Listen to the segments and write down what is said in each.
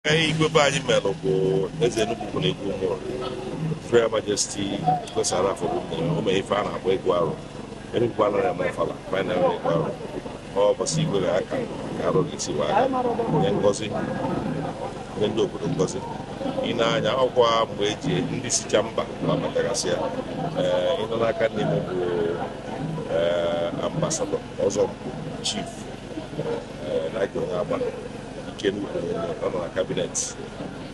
Ee, igwe be anyị melụ bụ eze Enugu ukwu na igwe Ụmụnri Royal Majesty Igwe Sir Ralph Obumneme o mee ife a na-akpọ ịgụ arọ Enugu anaghị eme ọfala ma anyị na-eme ịgụ arọ ụbọsị igwe ga-aka ka arọ ga-esi wee aga nye ngozi nye ndị obodo ngozi ị na-anya ọkwa mgbe eji ndị sicha mba na-abatagasị ya ee ịnọ n'aka nni m bụ ee ambasadọ ọzọ chief Elijah Onyeagba nke nnukwu ọ nọ na kabinet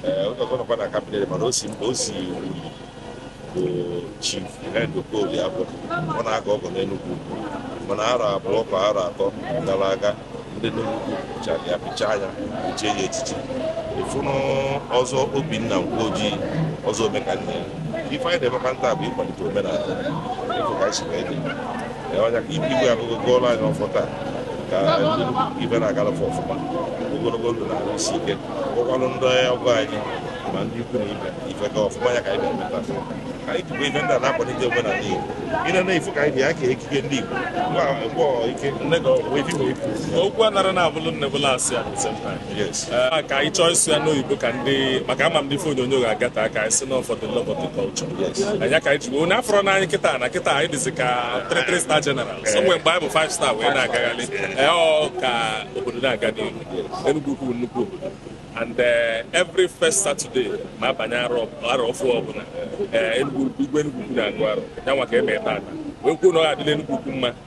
ee onye ọzọ nọkwa na kabinet mana o si mba o si Uli bụ chief Henry Okolie-Aboh ọ na-aga ọgọ n'Enugwu mana arọ abụọ ka arọ atọ gara aga ndị Enugwu chara ya pịchaa anya echie ya echichi ịfụnụ ọzọ Obinna Nwoji ọzọ Omekanne ife anyị na-emekwa taa bụ ịkwalite omenala ịfụ ka anyị si wee dị ọ nya ka ibe igwe abịago gọọlụ anyị ọfọ taa ka ife na-agalụ fa ọfụma ogologo ndụ na ahụ isi ike gọkwalụ ndị ọgọ anyị ma ndị ikwu na ibe ife ga ọfụma ya ka anyị na-emeta ka anyị jikwa ife ndị a na-akwalite omenala Igbo ile na ifu ka anyị dị ya ka ekike ndị Igbo mgbe ike nne ga ọgwụ ife okwu anara na-abụlụ nne bụla asị ya Ah, ka anyị chọọ ịsụ ya n'oyibo ka ndị maka ama m ndị ife onyonyo ga-aghọta ka anyị si na for the love of the culture ọ nya ka anyị ji onye afọrọ na anyị kịta na kịta anyị dịzi ka 3 star general so nwee mgbe anyị bụ 5 star wee na-agagharị ee ọ ka obodo na-aga n'ihu Enugu ukwu nnukwu obodo and eh, every first Saturday ma abanye arọ arọ ọfụ ọbụla eh, Enugu igwe Enugu ukwu na-agụ arọ ya nwa ka eme ebe a wee kwuo na ọ ga-adịlị Enugu ukwu mma